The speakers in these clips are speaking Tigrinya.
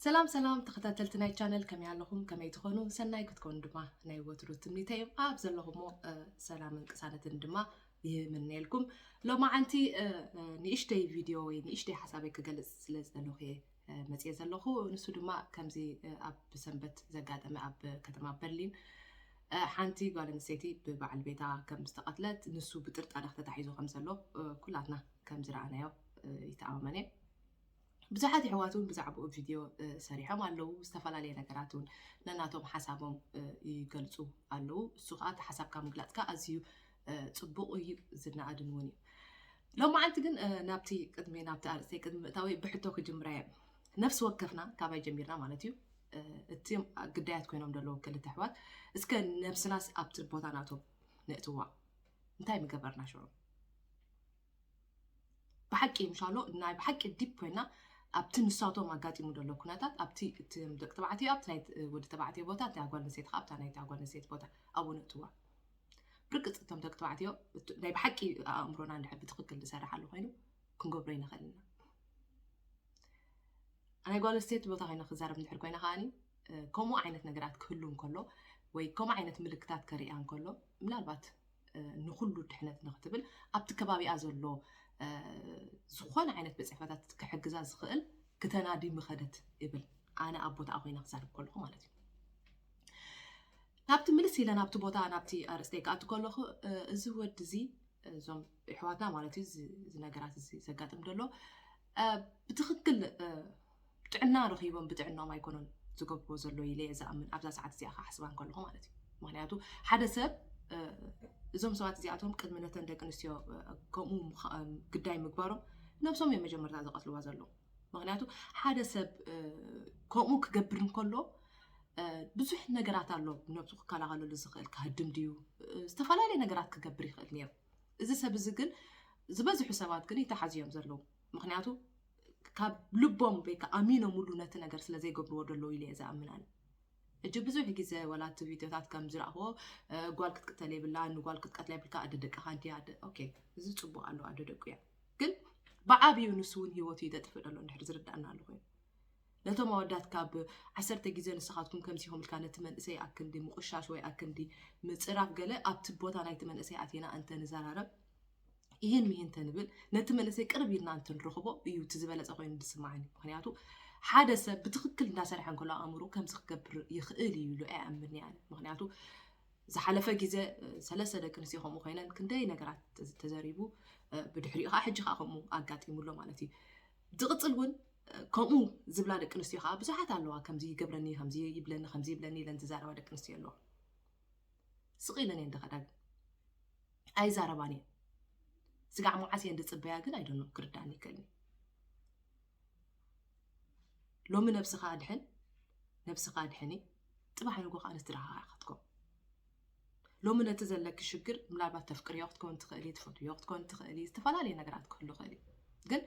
ሰላም ሰላም ተኸታተልቲ ናይ ቻነል ከመይ ኣለኹም ከመይ ትኾኑ ሰናይ ክትኮኑ ድማ ናይ ወትሩ ትምኒተ እዮም ኣብ ዘለኹሞ ሰላምን ቅሳነትን ድማ ይምነየልኩም ሎማዓንቲ ንእሽተይ ቪድዮ ወይ ንእሽተይ ሓሳበይ ክገልፅ ስለ ዝደለኹ እየ መፅየ ዘለኹ ንሱ ድማ ከምዚ ኣብ ሰንበት ዘጋጠመ ኣብ ከተማ በርሊን ሓንቲ ጓል ኣንስተይቲ ብበዓል ቤታ ከም ዝተቐትለት ንሱ ብጥርጣረ ተታሒዙ ከም ዘሎ ኩላትና ከም ዝረኣናዮ ይተኣማመን እየ ብዙሓት የሕዋት እውን ብዛዕባኡ ቪድዮ ሰሪሖም ኣለዉ ዝተፈላለየ ነገራት እውን ነናቶም ሓሳቦም ይገልፁ ኣለዉ እሱ ከዓ እቲ ሓሳብካ ምግላፅካ ኣዝዩ ፅቡቕ እዩ ዝነኣድን እውን እዩ ሎም መዓልቲ ግን ናብቲ ቅድሚ ናብቲ ኣርእስተይ ቅድሚ ምእታወይ ብሕቶ ክጅምራ እዮም ነፍሲ ወከፍና ካባይ ጀሚርና ማለት እዩ እቲ ግዳያት ኮይኖም ዘለዉ ክልተ ኣሕዋት እስከ ነብስናስ ኣብቲ ቦታ ናቶም ነእትዋ እንታይ ምገበርና ሽዑ ብሓቂ እንሻሎ ናይ ብሓቂ ዲፕ ኮይና ኣብቲ ንሳቶም ኣጋጢሙ ዘሎ ኩነታት ኣብቲ እቲ ደቂ ተባዕትዮ ኣብቲ ናይ ወዲ ተባዕትዮ ቦታ እቲ ኣጓል ንሴት ከዓ ኣብታ ናይቲ ኣጓል ንሴት ቦታ ኣብኡ ነእትዋ ብርግፅ እቶም ደቂ ተባዕትዮ ናይ ብሓቂ ኣእምሮና እንድሕር ብትክክል ዝሰራሓሉ ኮይኑ ክንገብሮ ይንኽእል ኢና ናይ ጓል ኣንስተይቲ ቦታ ኮይነ ክዛረብ እንድሕር ኮይነ ከዓኒ ከምኡ ዓይነት ነገራት ክህሉ እንከሎ ወይ ከምኡ ዓይነት ምልክታት ከርእያ እንከሎ ምናልባት ንኹሉ ድሕነት ንክትብል ኣብቲ ከባቢኣ ዘሎ ዝኾነ ዓይነት ብፅሕፈታት ክሕግዛ ዝኽእል ክተናዲ ምኸደት ይብል ኣነ ኣብ ቦታኣ ኮይነ ክዛርብ ከለኹ ማለት እዩ ናብቲ ምልስ ኢለ ናብቲ ቦታ ናብቲ ኣርእስተይ ክኣቱ ከለኹ እዚ ወዲ እዚ እዞም ኣሕዋትና ማለት እዩ እዚ ነገራት እዚ ዘጋጥም ደሎ ብትኽክል ጥዕና ረኺቦም ብጥዕናኦም ኣይኮኑን ዝገብርዎ ዘሎ ኢለ እየ ዝኣምን ኣብዛ ሰዓት እዚኣ ክሓስባ እንከለኹ ማለት እዩ ምክንያቱ ሓደ ሰብ እዞም ሰባት እዚኣቶም ቅድሚ ነተን ደቂ ኣንስትዮ ከምኡ ግዳይ ምግባሮም ነብሶም እዮም መጀመርታ ዝቐትልዋ ዘለዉ ምክንያቱ ሓደ ሰብ ከምኡ ክገብር እንከሎ ብዙሕ ነገራት ኣሎ ነብሱ ክከላኸለሉ ዝኽእል ክሃድም ድዩ ዝተፈላለየ ነገራት ክገብር ይኽእል ነይሩ እዚ ሰብ እዚ ግን ዝበዝሑ ሰባት ግን ይተሓዙ እዮም ዘለዉ ምክንያቱ ካብ ልቦም ወይ ከዓ ኣሚኖምሉ ነቲ ነገር ስለ ዘይገብርዎ ደለዉ ኢለ እየ ዝኣምን ኣነ እጂ ብዙሕ ግዜ ወላ እቲ ቪድዮታት ከም ዝረእኽዎ ጓል ክትቅተል የብላ ንጓል ክትቀትላ የብልካ ኣደ ደቅኻ እንዲ ኣደ ኦኬ እዚ ፅቡቅ ኣሎ ኣደ ደቁ እያ ግን ብዓብዩ ንሱ እውን ሂወቱ እዩ ዘጥፍእ ዘሎ እንድሕር ዝርዳእና ኣሎ ኮይኑ ነቶም ኣወዳት ካብ ዓሰርተ ግዜ ንስኻትኩም ከምዚኹም ኢልካ ነቲ መንእሰይ ኣክንዲ ምቑሻሽ ወይ ኣክንዲ ምጽራፍ ገለ ኣብቲ ቦታ ናይቲ መንእሰይ ኣቲና እንተ ንዘራረብ ይህን ምሂን እንተንብል ነቲ መንእሰይ ቅርብ ኢልና እንትንረኽቦ እዩ እቲ ዝበለጸ ኮይኑ ዝስማዓኒ ምክንያቱ ሓደ ሰብ ብትክክል እንዳሰርሐ እንከሎ ኣእምሮ ከምዚ ክገብር ይኽእል እዩ ኢሉ ኣይኣምንኒ ኣነ ምክንያቱ ዝሓለፈ ግዜ ሰለስተ ደቂ ኣንስትዮ ከምኡ ኮይነን ክንደይ ነገራት ተዘሪቡ ብድሕሪኡ ከዓ ሕጂ ከዓ ከምኡ ኣጋጢሙሎ ማለት እዩ ዝቅጽል ውን ከምኡ ዝብላ ደቂ ኣንስትዮ ከዓ ብዙሓት ኣለዋ ከምዚ ይገብረኒ ከምዚ ይብለኒ ከምዚ ይብለኒ ኢለን ዝዛረባ ደቂ ኣንስትዮ ኣለዋ ስቅ ኢለን እየን ድኸዳ ግን ኣይዛረባን እየን ስጋዕ መዓስ እየን ዝፅበያ ግን ኣይደኖ ክርዳእኒ ይክእልኒ ሎሚ ነብስኻ ኣድሕን ነብስኻ ኣድሕኒ ጥባሕ ንጎ ከዓ ንስድራኻ ክትከው ሎሚ ነቲ ዘለኪ ሽግር ምናልባት ተፍቅርዮ ክትኮን ትኽእሊ፣ ትፈትውዮ ክትኮን ትኽእሊ፣ ዝተፈላለየ ነገራት ክህሉ ይኽእል እዩ። ግን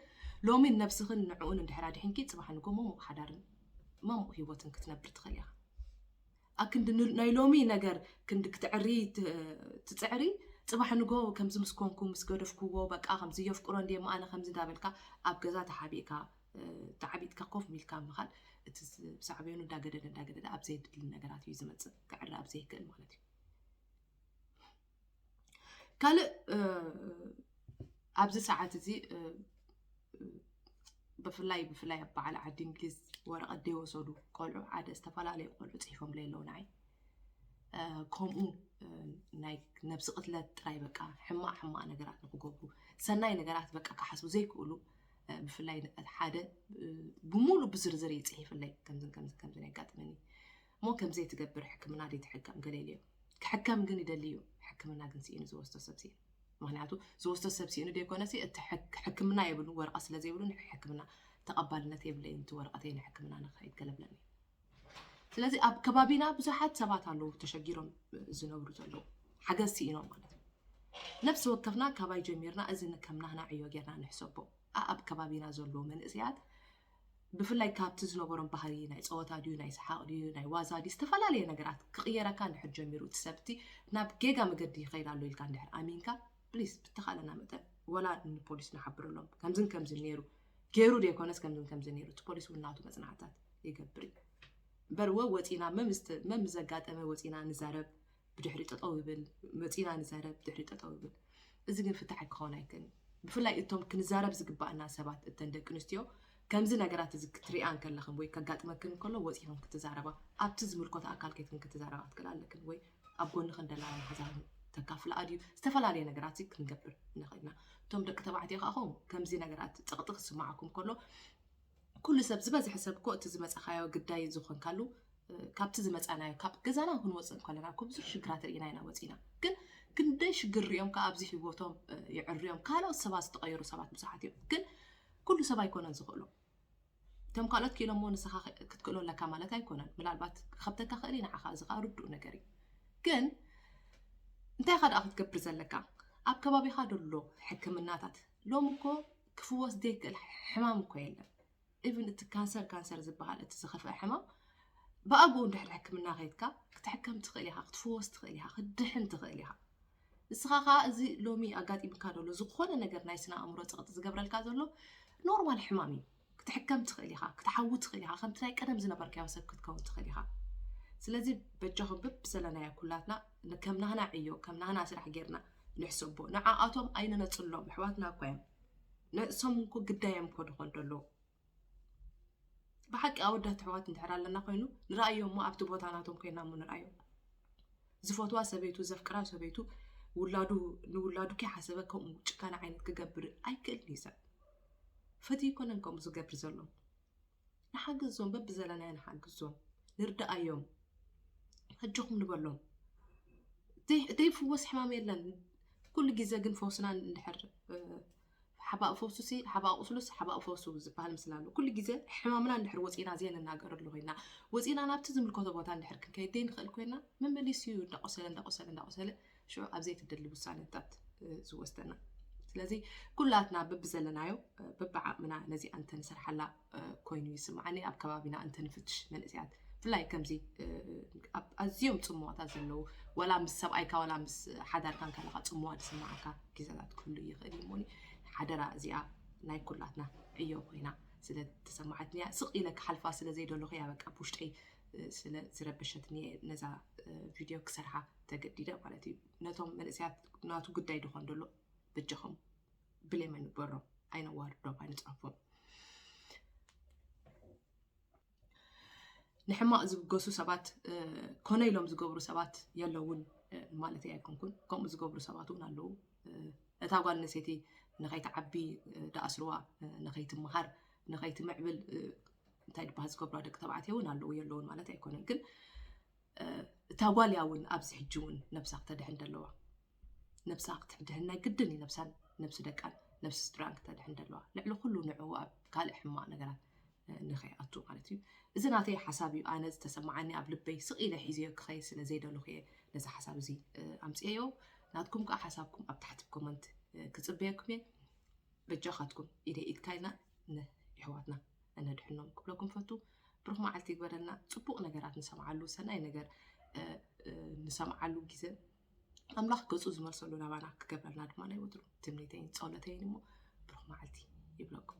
ሎሚ ነብስኽን ንዕኡን እንድሕር ኣድሒንኪ ጽባሕ ንጎ መሙቕ ሓዳርን መሙቕ ህይወትን ክትነብሪ ትኽእሊ ኢኻ። ኣብ ክንዲ ን- ናይ ሎሚ ነገር ክንዲ ክትዕሪ ት- ትጽዕሪ ጽባሕ ንጎ ከምዚ ምስ ኮንኩ ምስ ገደፍክዎ በቃ ከምዚ የፍቅሮ እንድየ እሞ ኣነ ከምዚ እንዳበልካ ኣብ ገዛ ተሓቢእካ ተዓቢጥካ ኮፍ ኢልካ ምኻድ እቲ ሳዕቤኑ እንዳገደደ እንዳገደደ ኣብ ዘየድሊ ነገራት እዩ ዝመፅእ ክዕረ ኣብ ዘይክእል ማለት እዩ ካልእ ኣብዚ ሰዓት እዚ ብፍላይ ብፍላይ ኣብ በዓል ዓዲ እንግሊዝ ወረቐት ደይወሰዱ ቆልዑ ሓደ ዝተፈላለዩ ቆልዑ ፅሒፎም ለይ ኣለዉ ንዓይ ከምኡ ናይ ነብሲ ቅትለት ጥራይ በቃ ሕማቅ ሕማቅ ነገራት ንክገብሩ ሰናይ ነገራት በቃ ክሓስቡ ዘይክእሉ ብፍላይ ሓደ ብሙሉ ብዝርዝር እዩ ፅሒፍለይ ከምዝን ከምዝን ከምዝን የጋጥመኒ እሞ ከምዘይ ትገብር ሕክምና ደይ ትሕከም ገለ ኢሉ እዮም ክሕከም ግን ይደሊ እዩ ሕክምና ግን ስኢኑ ዝወስዶ ሰብ ስኢኑ ምክንያቱ ዝወስዶ ሰብ ስኢኑ ደይኮነ እቲ ሕክምና የብሉ ወረቐት ስለዘይብሉ ሕክምና ተቐባልነት የብለይ እቲ ወረቐተይ ንሕክምና ንክኸይድ ገለብለኒ ስለዚ ኣብ ከባቢና ብዙሓት ሰባት ኣለዉ ተሸጊሮም ዝነብሩ ዘለዉ ሓገዝ ስኢኖም ማለት እዩ ነፍሲ ወከፍና ካባይ ጀሚርና እዚ ከም ናህና ዕዮ ጌርና ንሕሰቦ ኣብ ከባቢና ዘለዉ መንእሰያት ብፍላይ ካብቲ ዝነበሮም ባህሪ ናይ ፀወታ ድዩ ናይ ሰሓቕ ድዩ ናይ ዋዛ ድዩ ዝተፈላለየ ነገራት ክቕየረካ እንድሕር ጀሚሩ እቲ ሰብቲ ናብ ጌጋ መገዲ ይኸይድ ኣሎ ኢልካ እንድሕር ኣሚንካ ፕሊስ ብተኻለና መጠን ወላ ንፖሊስ ንሓብረሎም ከምዝን ከምዝን ነይሩ ገይሩ ዘይኮነስ ከምዝን ከምዝን ነይሩ እቲ ፖሊስ እውን ናቱ መፅናዕትታት ይገብር እዩ በርወ ወፂና መም ዘጋጠመ ወፂና ንዛረብ ብድሕሪ ጠጠው ይብል መፂና ንዛረብ ብድሕሪ ጠጠው ይብል እዚ ግን ፍትሓ ክኸውን ኣይክእልን ብፍላይ እቶም ክንዛረብ ዝግባእና ሰባት እተን ደቂ ኣንስትዮ ከምዚ ነገራት እዚ ክትሪኣ እንከለኽን ወይ ከጋጥመክን እንከሎ ወፂኽን ክትዛረባ ኣብቲ ዝምልኮት ኣካል ከይትክን ክትዛረባ ክትክእል ኣለክን ወይ ኣብ ጎንኺ እንደላ ማሕዛኺ ተካፍላ ኣድዩ ዝተፈላለየ ነገራትሲ ክንገብር ንኽእል ኢና። እቶም ደቂ ተባዕትዮ ከኣ ኹም ከምዚ ነገራት ጸቕጢ ክስምዓኩም ከሎ ኩሉ ሰብ ዝበዝሐ ሰብ እኮ እቲ ዝመጻኻዮ ግዳይ ዝኾንካሉ ካብቲ ዝመጻናዮ ካብ ገዛና ክንወጽእ እንከለና እኮ ብዙሕ ሽግራት ርኢና ኢና ወጺና ግን ክንደይ ሽግር ሪኦም ከዓ ኣብዚ ህይወቶም የዕርዮም ካልኦት ሰባት ዝተቐየሩ ሰባት ብዙሓት እዮም ግን ኩሉ ሰብ ኣይኮነን ዝኽእሎም እቶም ካልኦት ክኢሎሞ ንስኻ ክትክእሎ ኣለካ ማለት ኣይኮነን ምናልባት ክኸብተካ ክእል ንዓኻ እዚ ከዓ ርዱእ ነገር እዩ ግን እንታይ ኻ ደኣ ክትገብር ዘለካ ኣብ ከባቢኻ ደሎ ሕክምናታት ሎሚ እኮ ክፍወስ ዘይክእል ሕማም እኮ የለን ኢቭን እቲ ካንሰር ካንሰር ዝበሃል እቲ ዝኸፍአ ሕማም ብኣግኡ እንድሕር ሕክምና ከይትካ ክትሕከም ትኽእል ኢኻ ክትፍወስ ትኽእል ኢኻ ክትድሕን ትኽእል ኢኻ ንስኻ ከኣ እዚ ሎሚ ኣጋጢምካ ዘሎ ዝኾነ ነገር ናይ ስነ ኣእምሮ ጸቕጢ ዝገብረልካ ዘሎ ኖርማል ሕማም እዩ። ክትሕከም ትኽእል ኢኻ፣ ክትሓዊ ትኽእል ኢኻ፣ ከምቲ ናይ ቀደም ዝነበርካዮ ሰብ ክትከውን ትኽእል ኢኻ። ስለዚ በጃኹም ብብሰለናዮ ኩላትና ከም ናህና ዕዮ ከም ናህና ስራሕ ጌርና ንሕሰቦ። ንዓኣቶም ኣይንነጽሎም፣ ኣሕዋትና እኳ እዮም። ንእሶም እኮ ግዳዮም እኮ ድኾን ደሎ ብሓቂ ኣወዳት ኣሕዋት እንድሕር ኣለና ኮይኑ ንርኣዮ እሞ ኣብቲ ቦታ ናቶም ኮይና እሞ ንርኣዮ ዝፈትዋ ሰበይቱ ዘፍቅራ ሰበይቱ ውላዱ ንውላዱ ከይሓሰበ ከምኡ ጭካነ ዓይነት ክገብር ኣይክእልን እዩ ሰብ ፈት ይኮነን ከምኡ ዝገብር ዘሎ ንሓግዞም በብዘለናዮ ንሓግዞም ንርዳኣዮም ሕጅኹም ንበሎም ዘይፍወስ ሕማም የለን ኩሉ ግዜ ግን ፈውስና እንድሕር ሓባእ ፈውሱሲ ሓባእ ቁስሉስ ሓባእ ፈውሱ ዝበሃል ምስላ ኣሎ። ኩሉ ግዜ ሕማምና እንድሕር ወጺእና ዘይንናገረሉ ኮይና፣ ወጺእና ናብቲ ዝምልከቶ ቦታ እንድሕር ክንከይድ ዘይንኽእል ኮይና፣ መመሊሱ እዩ እንዳቆሰለ እንዳቆሰለ እንዳቆሰለ ሽዑ ኣብ ዘይትደሊ ውሳነታት ዝወስደና። ስለዚ ኩላትና በብዘለናዮ በብዓቕምና ነዚኣ እንተንሰርሓላ ኮይኑ ይስምዓኒ ኣብ ከባቢና እንተንፍትሽ መንእሰያት ብፍላይ ከምዚ ኣብ ኣዝዮም ጽምዋታት ዘለዉ ወላ ምስ ሰብኣይካ ወላ ምስ ሓዳርካ ከለካ ጽምዋ ዝስምዓካ ግዜታት ክህሉ ይኽእል እዩ እሞኒ ሓደራ እዚኣ ናይ ኩላትና ዕዮ ኮይና ስለ ተሰማዓትኒ እያ ስቕ ኢለ ክሓልፋ ስለ ዘይደለኹ እያ በቃ ብውሽጠይ ስለ ዝረበሸትኒ እየ ነዛ ቪድዮ ክሰርሓ ተገዲደ ማለት እዩ ነቶም መንእሰያት ናቱ ጉዳይ ድኾን ደሎ በጃኹም ብሌም ኣይንግበሮም ኣይነዋርዶም ኣይንጻንፎም ንሕማቕ ዝብገሱ ሰባት ኮነ ኢሎም ዝገብሩ ሰባት የለውን ማለት ኣይኮንኩን ከምኡ ዝገብሩ ሰባት እውን ኣለዉ እታ ጓል ኣንስተይቲ ንኸይትዓቢ ዳኣስርዋ ንኸይትምሃር ንኸይትምዕብል እንታይ ድበሃል ዝገብራ ደቂ ተባዕትዮ እውን ኣለዉ የለውን ማለት ኣይኮነን ግን እታ ጓል እያ እውን ኣብዚ ሕጂ እውን ነብሳ ክተድሕን ደለዋ ነብሳ ክትድሕን ናይ ግድን እዩ ነብሳን ነብሲ ደቃን ነብሲ ስድራን ክተድሕን ደለዋ ልዕሊ ኩሉ ንዕኡ ኣብ ካልእ ሕማቅ ነገራት ንኸይኣቱ ማለት እዩ እዚ ናተይ ሓሳብ እዩ ኣነ ዝተሰማዓኒ ኣብ ልበይ ስቕ ኢለ ሒዘዮ ክኸይ ስለ ዘይደልኹ እየ ነዚ ሓሳብ እዚ ኣምፅኤዮ ናትኩም ከዓ ሓሳብኩም ኣብ ታሕቲ ኮመንት ክፅበየኩም እየ በጃኻትኩም ኢደ ኢድካ ኢልና ንኣሕዋትና ነድሕኖም ክብለኩም ፈቱ ብሩኽ መዓልቲ ይግበረልና ጽቡቕ ነገራት ንሰምዓሉ ሰናይ ነገር ንሰምዓሉ ግዜ ኣምላኽ ገጹ ዝመልሰሉ ናባና ክገብረልና ድማ ናይ ወትሩ ትምኒተይን ጸሎተይን እሞ ብሩኽ መዓልቲ ይብለኩም